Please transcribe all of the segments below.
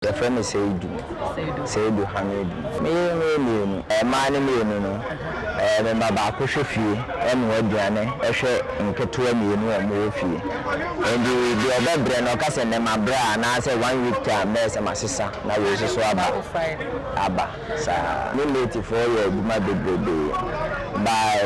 Yɛfrɛ me Seidu. Seidu. Seidu Hamidu. Me yere ne yɛ mmienu. Mmaa no mmienu no, me ba baako hwɛ fie, ɛnoa aduane, ɛhwɛ nketewa mmienu a wɔwɔ fie. Enti deɛ ɔbɛbrɛ no, ɔka sɛ nnɛ mabrɛ a, anaasɛ one week time bɛyɛ sɛ masesa na wei nso so aba. Aba. saa. Ne late foɔ yɛ adwuma bebrebe by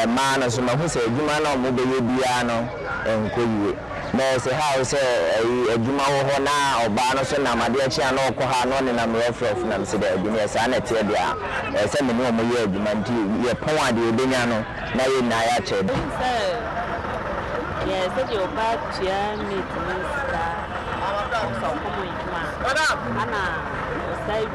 ɛmaa no so mahu sɛ adwuma no a ɔmo bɛyɛ biaa no nkɔ yie na ɛsɛ how sɛ ɛyi adwuma wɔ hɔ na ɔbaa no so nam adeɛ kye a na ɔkɔ ha na ɔnenam rough rough nam se daabi neɛ saa na ɛteɛ deɛ a ɛyɛ sɛ me ne ɔmo yɛ adwuma nti yɛ pɔn a deɛ yɛbɛnya no na yɛ nyinaa yɛ akyɛ. Wonim sɛ yɛ sɛdeɛ ɔbaa tua maid no sika a ɔkɔ mu adwuma a ɛna ɔsan.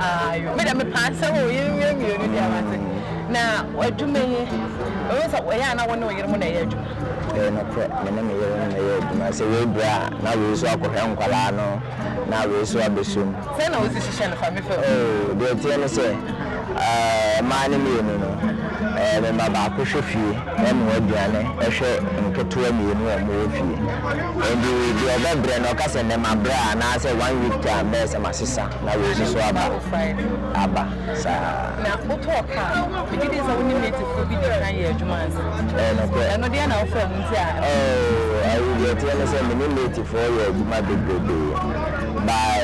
Ayo me de me paa sɛ o yere mmea mmienu deɛ wate na adwuma yi ɛwɔ sɛ ɛyɛ a na wo ne wo yere mo na ɛyɛ adwuma. Ɛyɛ nokorɛ me ne me yere no na ɛyɛ adwuma sɛ wei brɛ a na wei nso akɔhwɛ nkwadaa no na wei nso abɛsɔ mu. Sɛn na wode hyehyɛ no fa me fam. Oh deɛ ɛteɛ ne sɛ ɛɛ mmaa no mmienu no ɛɛ me ma baako hwɛ fie ɛnoa aduane ɛhwɛ nketewa mmienu a wɔn wɔ fie ɛnti deɛ ɔbɛbrɛ no ɔka sɛ nnɛ mabrɛ a anaasɛ one week time bɛyɛ sɛ masesa. Na wei nso so aba, aba saa. Na wotɔɔ kaa, megye di sɛ wo ne nativefoɔ bi dii kan yɛɛ adwuma ansa. Ɛyɛ nokorɛ. Ɛno deɛ na wofrɛ ho nti a. Oh, ayi deɛ ɛteɛ ne sɛ me ne nativefoɔ yɛɛ adwuma bebrebe. By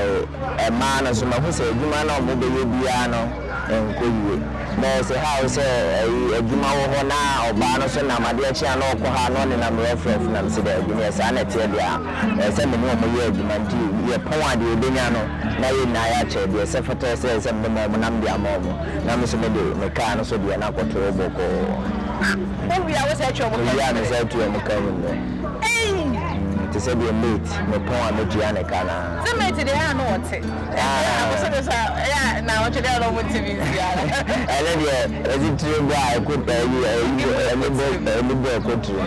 ɛmaa no nso mahu sɛ adwuma no a wɔbɛyɛ biara no nkɔ yie. Na ɛsɛ ha wo sɛ ayi adwuma wɔ hɔ na ɔbaa no nso nam adeɛ kye a na ɔkɔ ha na ɔnenam rɛfrɛf nam se daabi neɛ saa na ɛteɛ deɛ a. ɛsɛ sɛ me ne wɔn yɛ adwuma nti yɛpɔn a deɛ yɛbɛnya no na yɛn nyinaa yɛakyɛ, deɛ ɛsɛ fata sɛ ɛsɛ sɛ mede ma wɔn na mede ama wɔn, na me nso mede me kaa no so deɛ na kɔtoo bɔkɔɔ. Wowie a wo saa tua wɔn ka mu nnɛ? Mewie a me saa tua wɔn ka mu nnɛ. Te sɛ deɛ mate me pɔn a mɛtua ne ka no ara. Sɛ mate deɛ ɛyɛ a na wɔte, ɛnde abosome so a ɛyɛ a nnawɔtwe deɛ na wɔntumi ntua no. Ɛno deɛ yɛse tire bɔ a ɛkɔ ɛyi ɛyi bɔ ɛni bɔ ɛni bɔ ɛkɔ tire.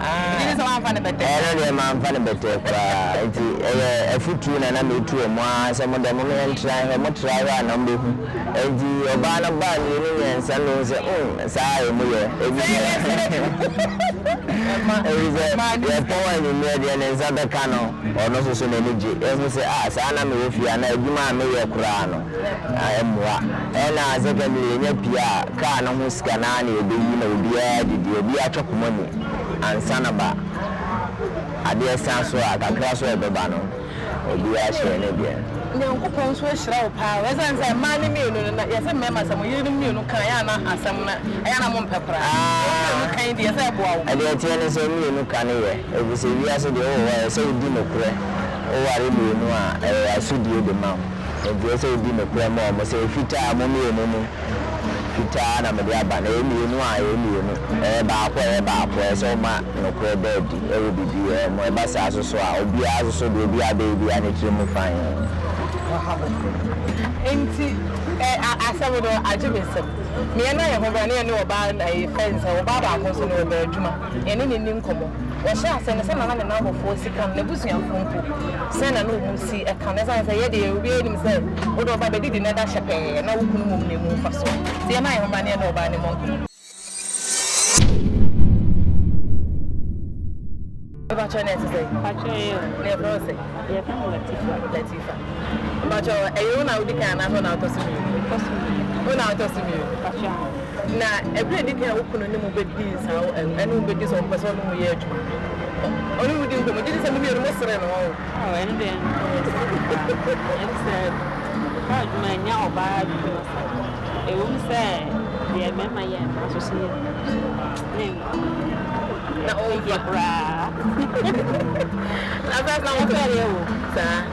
Ɛno deɛ mamfa no bɛtɛɛ koraa, enti ɛyɛ afotuo na na meretu wɔn ara sɛ modɛ mom yɛntra hwɛ, motra hwɛ a na mobɛhu. Enti ɔbaa no baa mmienu mmiɛnsa na ɔhu sɛ umm saa ara ɛmu yɛ, ɛfisɛ yɛtɔn anwummerɛ deɛ ne nsa bɛka no, ɔno nso so n'ani gye, ɛhu sɛ ah saa na mewɔ fie a na adwuma a meyɛ koraa no ɛmmoa. Ɛna secondly yɛnya pii a Car no ho sika no ara na yɛbɛyi na obiara de deɛ obiara atwa koma mu ansa na ba adeɛ sa so a kakra so a ɛbɛba no obiara hyɛ ne deɛ. Nyankopɔn nso ahyira wo paa o ɛsiane sɛ mmaa no mmienu no na yɛse mmarima sɛ mo yerenom mmienu kan yɛ a na asɛm no ɛyɛ a na mo mpɛ koraa wɔn mmienu kan yi deɛ ɛsɛ ɛboa wo. Deɛ ɛteɛ ne sɛ mmienu ka no yɛ ɛfisɛ wiase deɛ wowɔ hɔ a ɛsɛ wodi nokorɛ wo ware mmienu a ɛyɛ asodie de ma wo nti ɛsɛ wodi nokorɛ ma wɔn sɛ ɛfitaa mo mmienu no fitaa na mede aba, na ɛyɛ mmienu a, ɛyɛ mmienu, ɛyɛ baako a, ɛyɛ baako, ɛyɛ sɛ woma nokorɛ da adi wɔ biribiara mu, ɛba saa nso so a, obiara nso so deɛ obiara bɛyɛ biara ne tiri mu fann. Enti ɛ a asɛm no agye me nsam, me yɛ na yɛ ho bra, na yɛ ne ɔbaa ɛ fɛn sɛ ɔbaa baako nso no ɔbaa adwuma. yɛne no nni nkɔmmɔ. Wɔhyɛɛ aseɛ no, sɛdeɛ na ne nnamfofoɔ si ka no, n'abusuafoɔ mpo, sɛdeɛ na na wɔn si ka no, ɛsiane sɛ yɛn deɛ obiara nim sɛ wode ɔbaa bɛdidi na ɛda hyɛ pɛɛ, na wo kunu mmom na ɛmu mfasoɔ, nti yɛmma yɛn ho mma na yɛne ɔbaa no mmɔ nkɔmmɔ. Mepakyɛ na ɛte sɛn? Mepakyɛ ɛyɛ o. Na yɛfrɛ wo sɛn? Yɛfrɛ me Latifa. Latifa. Mepakyɛ ɛyɛ wo na wodi kan anaasɛ wo na wotɔ so mmienu? Metɔ so mmienu. Wo na wotɔ so mmienu? Mepakyɛ. Na ɛberɛ a ɛdi kan a wo kunu ne mo bɛdii nsa wo ɛno, ɛne wo bɛdi sɛ ɔmpɛ sɛ ɔne mo yɛ adwuma? Ɔne wo di nkɔmmɔ gye de sɛ mo mmienu mo sere no ɔn? Ao ɛno deɛ ɛnyɛ saa paa. Ɛne sɛ ɔkɔ adwuma ɛnyɛ ɔbaa adwuma sa. Ɛwom sɛ deɛ mmarima yɛ no nanso so yɛ ne nkwa na ɔmfa koraa. Ɛsɛ sɛ wo sɛ yɛ wo. Saa.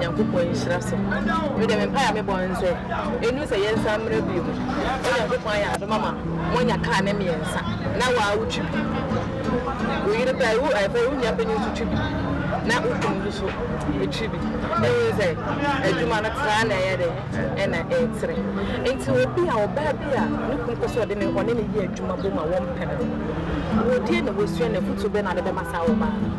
Nyankopɔn nhyira so. Me de me mpae a me bɔ ne sɛ, ɛnnu sɛ yɛn san mmra bio. Sɛ Nyankopɔn ayɛ adom ama mo anya car ne mmiɛnsa, na wo ara wo twi bi, wo yere koraa wo ɛɛ fɛ wo nua panyin nso twi bi, na wo kunu nso so ɛtwi bi, na wohu sɛ adwuma no tra na ɛyɛ dɛ ɛna ɛɛtere. Nti obi a ɔbaa bi a ne kunu pɛ sɛ ɔde ne ɔne ne yɛ adwuma bom a wɔn pɛ no, wɔ deɛ na wasua na afutuo bɛ na ɔde bɛma saa ɔbaa no.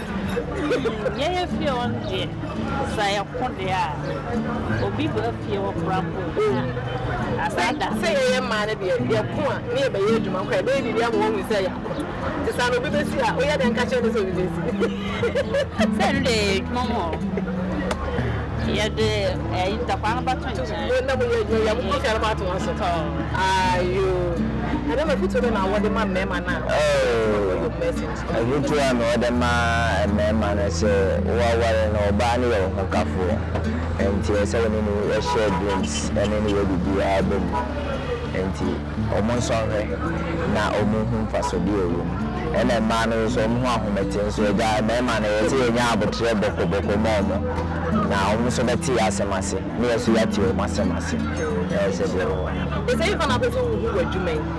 Hmmm yɛyɛ fie hɔ no deɛ sa yɛko deɛ a obi ba fie hɔ koraa mpo a asaa da. Sɛ yɛyɛ mmaa no deɛ yɛko a ne yɛbɛyɛ adwuma koraa yɛbɛyɛ biribi ama wɔahu sɛ yɛako nti saa no obi bɛsi a woyɛ dɛn ka kyerɛ no sɛ obi bɛsi. Sɛ ɛno deɛ yɛyɛ adwuma mu hɔ yɛde ɛyi ntakwaa no bɛto nkyɛn. Yɛn na moyɛ adwuma yɛ mokɔ fia no bɛato wɔn so tɔ ayoo. Ɛno na fotuo bɛ na wɔde ma mmarima no a wɔyɛ adwuma kɔ yɛ mmaa si. Afotuo a na ɔde ma mmarima no sɛ woaware no ɔbaa no yɛ wo hokafoɔ nti ɛsɛ sɛ wo ne no share drinks ne no yɛ biribiara bɔ mu nti wɔn nsɔ nhwɛ na wɔn nhu mfasodeɛ a ɛwɔ mu ɛna mmaa no nso wɔn ho ahomete nso agya mmarima no ɛsɛ yɛnya aboterɛ bɔkɔ bɔkɔ ma wɔn na wɔn nso bɛte yɛ asɛm ase ne yɛ nso yɛate wɔn asɛm ase ɛyɛ sɛ deɛ wɔ. Ɛsɛ yɛfa no akɔsɛ wohu wɔ adwuma yi.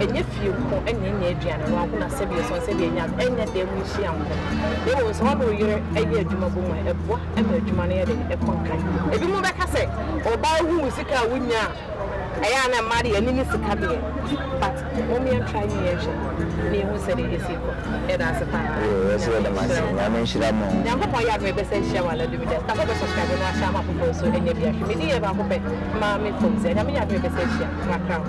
Ɛnyɛ fie nko na enya aduane no nko na sɛbi ɛsɔn sɛbi enya no, ɛnyɛ dan mu nhyia nko na mmom sɛ wɔne wo yere yɛ adwuma bom a, ɛboa ma adwuma no yɛ den, ɛkɔ nkan. Ebinom bɛka sɛ ɔbaa hu wo sika a wunya a, ɛyɛ a na mmaa de yɛn ani ne sika deɛ but mom yɛn try ne yɛn hwɛ na yɛn hu sɛdeɛ esi kɔ. Yɛda ase paa. Nyame nhyira mo. Nyankopɔn yɛ adom ɛbɛsan ahyia wɔ anadwo biara. Meda kasa bɛ subscribe na ahyɛ ama foforɔ nso ɛnyɛ bia hwɛ medi yɛ baako pɛ maa me fom sɛ nyame yɛ adom yɛbɛsɛ ahyia makra ho.